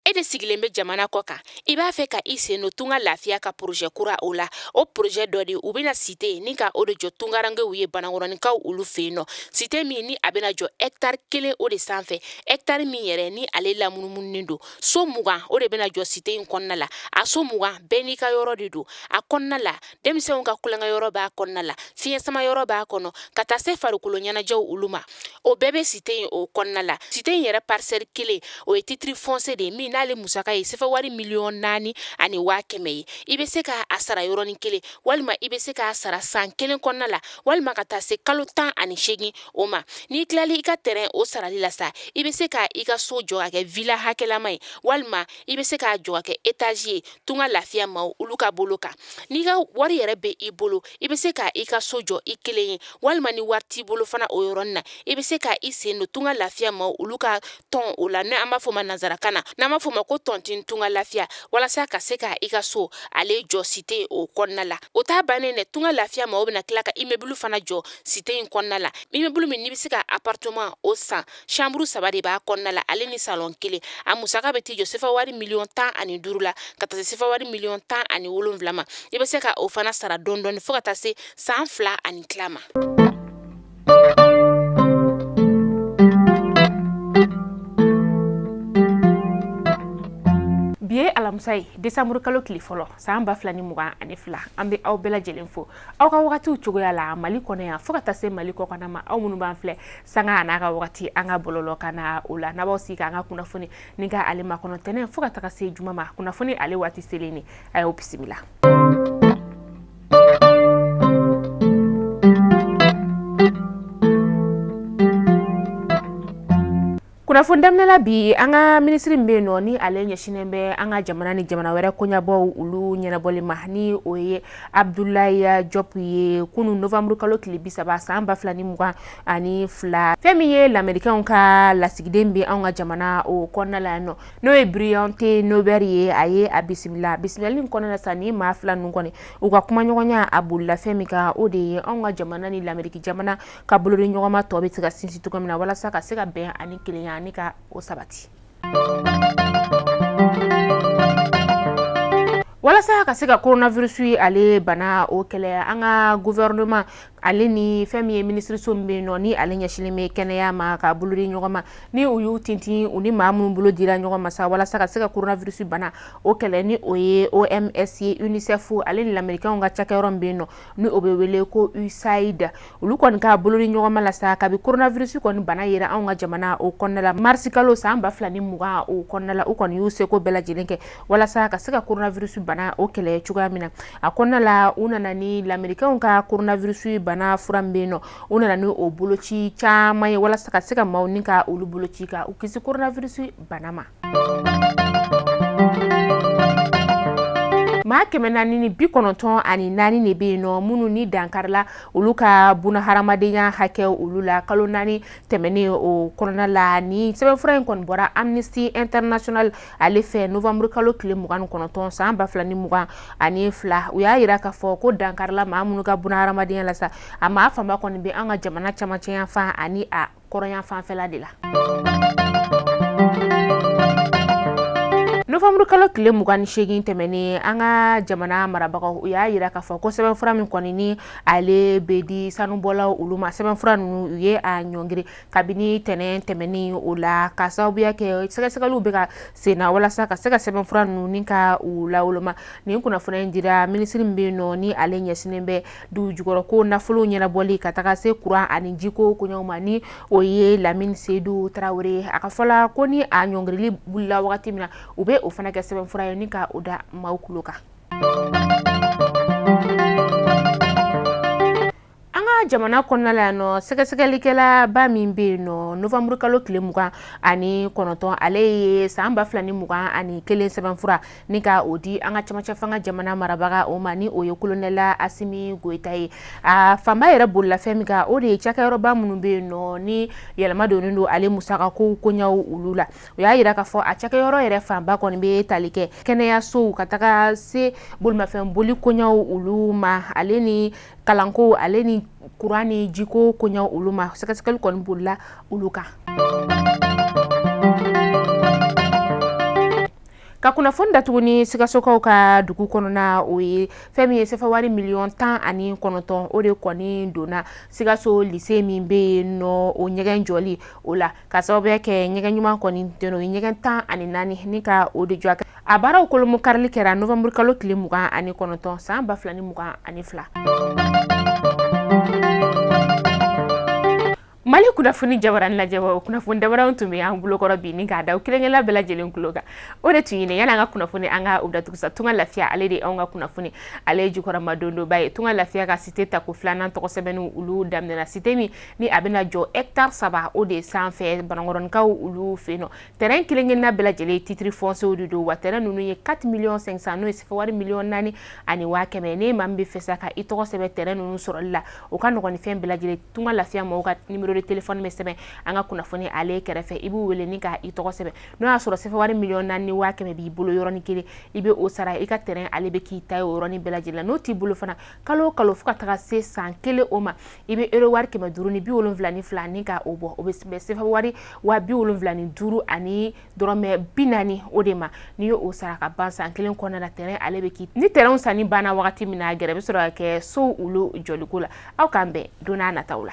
e de sigilen bɛ jamana kɔ kan i b'a fɛ ka i sen don tunga lafiya ka porozɛ kura o la o porozɛ dɔ de u bɛna site ni ka o de jɔ tungarankew ye banakɔrɔninkaw olu fɛ yen nɔ site min ni a bɛna jɔ ɛktari kelen o de sanfɛ ɛktari min yɛrɛ ni ale lamunumununen don so mugan o de bɛna jɔ site in kɔnɔna la a so mugan bɛɛ n'i ka yɔrɔ de don a kɔnɔna la denmisɛnw ka tulonkɛyɔrɔ b'a kɔnɔna la fiɲɛ sama yɔrɔ b'a kɔnɔ ka taa se farikolo ɲɛnajɛw olu ma o bɛɛ bɛ site in o kɔnɔna la site in yɛrɛ parisɛli kelen o ye titiri fɔnsiye de ye min n'ale musaka ye sefa wari miliyɔn naani ani waa kɛmɛ ye i bɛ se ka a sara yɔrɔnin kelen walima i bɛ se k'a sara san kelen kɔnɔna la walima ka taa se kalo tan ani seegin o ma n'i tilala i ka tɛrɛn o sarali la sa i bɛ se ka i ka so jɔ ka kɛ vila hakɛlama ye walima i bɛ se k'a jɔ ka kɛ etazi ye tunga lafiya maaw olu ka bolo kan n'i ka wari yɛrɛ bɛ i bolo i bɛ se ka i ka so jɔ i kelen ye walima ni wari t'i bolo fana o yɔrɔnin na i bɛ se ka i sen don tunga lafiya maaw olu ka tɔn o la n'an b'a fɔ ma nanzarakan na n'an b'a fɔ ma ko tɔntin tunga lafiya walasa ka se ka i ka so ale jɔ site o kɔnɔna la o t'a bannen dɛ tunga lafiya maaw bɛna tila ka imebulu fana jɔ site in kɔnɔna la imebulu min n'i bɛ se ka aparteman o san Chambre saba de b'a kɔnɔna la ale ni salon kelen a musaka bɛ t'i jɔ sefa wari miliyɔn tan ani duuru la ka taa se sefa wari miliyɔn tan ani wolonwula ma i bɛ se ka o fana sara dɔɔni dɔɔni fo ka taa se san fila ani tila ma. bi ye alamisa ye desanburu kalo tile fɔlɔ san ba fila ni mugan ani fila an bɛ aw bɛɛ lajɛlen fo aw ka wagatiw cogoya la mali kɔnɔ yan fo ka taa se mali kɔkanna ma aw minnu b'an filɛ sanga n'a ka wagati an ka bɔlɔlɔ kan na o la n'aw b'aw sigi k'an ka kunnafoni ni ka ale makɔnɔ tɛnɛ fo ka taga se juma ma kunnafoni ale waati selen ne a y'o bisimila kunnafoni daminɛ la bi an ka minisiri min bɛ yen nɔ ni ale ɲɛsinnen bɛ an ka jamana ni jamana wɛrɛ koɲabɔw olu ɲɛnabɔli ma ni o ye abdulayi jɔp ye kunu novanburu kalo tile bi saba san ba fila ni mugan ani fila fɛn min ye lamerikɛnw ka lasigiden bɛ an ka jamana o kɔnɔna la yan nɔ n'o ye biriyan te nobɛri ye a ye a bisimila bisimilali in kɔnɔna sa ni maa fila ninnu kɔni u ka kumaɲɔgɔnya a bolila fɛn min kan o de ye an ka jamana ni lameriki jamana ka bolodiɲɔgɔnma tɔ bɛ se ka sinsin cogo min na walasa ka se ka bɛn ani kelenya ni ka o sabati walasa ka se ka koronavirisu ale bana o kɛlɛ an ka gofɛrɛnaman ale ni fɛn min ye minisiriso min bɛ yen nɔ ni ale ɲɛsinlen bɛ kɛnɛya ma ka bolo di ɲɔgɔn ma ni u y'u tintin u ni maa minnu bolo dira ɲɔgɔn ma sa walasa ka se ka koronavirisu bana o kɛlɛ ni o ye oms ye unicef ale ni lamerikɛnw ka cakɛyɔrɔ min bɛ yen nɔ ni o bɛ wele ko usaid olu kɔni ka bolodiɲɔgɔnma la sa kabi koronavirisi kɔni bana yera anw ka jamana o kɔnɔna la marisi kalo san ba fila ni mugan o kɔnɔna la u kɔni y'u seko bɛɛ lajɛlen kɛ walasa ka se ka koronavirisi bana o kɛlɛ cogoya min na a kɔnɔna la u nana ni lamerikɛnw ka koronavirisi bana fura min bɛ yen nɔ u nana ni o boloci caman ye walasa ka se ka maaw ni ka olu boloci ka u kisi koronavirisi bana ma maa kɛmɛ naani ni bi kɔnɔntɔn ani naani de bɛ yen nɔ minnu ni dankarila olu ka bunahadamadenya hakɛ olu la kalo naani tɛmɛnen o kɔnɔna la ni sɛbɛnfura in kɔni bɔra amnesty international ale fɛ novembre kalo tile mugan ni kɔnɔntɔn san ba fila ni mugan ani fila u y'a yira k'a fɔ ko dankarila maa minnu ka bunahadamadenya la sa a maa fanba kɔni bɛ an ka jamana camancɛ yanfan ani a kɔrɔnyanfan fɛla de la novanburu kalo tile mugan ni seegin tɛmɛnen an ka jamana marabagaw u y'a yira k'a fɔ ko sɛbɛnfura min kɔni ni ale bɛ di sanubɔlaw olu ma sɛbɛnfura ninnu u ye a ɲɔngiri kabini tɛnɛn tɛmɛnen o la ka sababuya kɛ sɛgɛsɛgɛliw bɛ ka senna walasa ka se ka sɛbɛnfura ninnu ni ka u lawoloma nin kunnafoniya in dira minisiri min bɛ yen nɔ ni ale ɲɛsinnen bɛ du jukɔrɔ ko nafolo ɲɛnabɔli ka taga se kuran ani jiko koɲaw ma ni o ye lamini sedu tarawele ye a ka fɔ la ko ni a ɲɔngirili wulila wagati min na u bɛ o fana kɛ sɛbɛnfura ye ni ka o da maaw kulo kan an ka jamana kɔnɔna la yan nɔ sɛgɛsɛgɛlikɛla ba min bɛ yen nɔ novanburukalo tile mugan ani kɔnɔntɔn ale ye san ba fila ni mugan ani kelen sɛbɛnfura ni ka o di an ka camancɛ fanga jamana marabaga o ma ni o ye kolonɛla asimi goyita ye a fanba yɛrɛ bolila fɛn min kan o de ye cakɛyɔrɔba minnu bɛ yen nɔ ni yɛlɛma donnen don ale musaka kow koɲaw olu la o y'a yira k'a fɔ a cakɛyɔrɔ yɛrɛ fanba kɔni bɛ tali kɛ kɛnɛyasow ka taga se bolimafɛn boli koɲaw olu ma ale ni kalanko ale ni kuran ni jiko koɲaw olu ma sɛgɛsɛgɛli kɔni bolila olu kan ka kunnafoni datugu ni sikasokaw ka dugu kɔnɔna o ye fɛn min ye sefa wari miliyɔn tan ani kɔnɔntɔn o de kɔni donna sikaso lise min bɛ yen nɔ o ɲɛgɛn jɔli o la ka sababuya kɛ ɲɛgɛn ɲuman kɔni tɛ o ye ɲɛgɛn tan ani naani ni ka o de jɔ k'a baaraw kolomo karili kɛra novanburukalo tile mugan ani kɔnɔntɔn san ba fila ni mugan ani fila mali kunnafoni jabaranin lajɛbaaw kunnafoni dabaranw tun bɛ an bolokɔrɔ bi ni k'a da kelen-kelenna bɛɛ lajɛlen tulo kan o de tun ye nin ye yan'an ka kunnafoni an ka u datugu sa tunga lafiya ale de anw ka kunnafoni ale ye jukɔrɔmadondonba ye tunga lafiya ka cité tako filanan tɔgɔ sɛbɛnniw olu daminɛna cité min ni a bɛna jɔ hectare saba o de sanfɛ banankɔrɔnkaw olu fɛ nɔ terrain kelen-kelenna bɛɛ lajɛlen titre foncier de don wa terrain ninnu ye 4 miliyɔn 500 n'o ye sɛfɛ wari miliyɔn naani ani waa kɛmɛ ni maa min bɛ fɛ sa ka i tɔgɔ sɛbɛn terrain ninnu sɔrɔli la o ka nɔgɔn ni fɛn bɛɛ lajɛlen tunga lafiya mɔgɔw ka numéro de téléphone bɛ sɛbɛn an ka kunnafoni ale kɛrɛfɛ i b'u wele ni ka i tɔgɔ sɛbɛn n'o y'a sɔrɔ sɛfɛ wari miliyɔn naani ni waa kɛmɛ b'i bolo yɔrɔnin kelen i bɛ o sara i ka terrain ale bɛ k'i ta ye o yɔrɔnin bɛɛ lajɛlen n'o t'i bolo fana kalo o kalo fo ka taga se san kelen o ma i bɛ euro wari kɛmɛ duuru ni bi wolonwula ni fila ni ka o bɔ o bɛ bɛn sɛfɛ wari waa bi wolonwula ni duuru ani dɔrɔmɛ bi naani o de ma n'i y'o sara ka ban san kelen kɔnɔna na terrain ale bɛ k'i ni terrainw sanni banna wagati min na gɛrɛ bɛ sɔrɔ ka kɛ so olu jɔliko la aw k'an bɛn don nataw la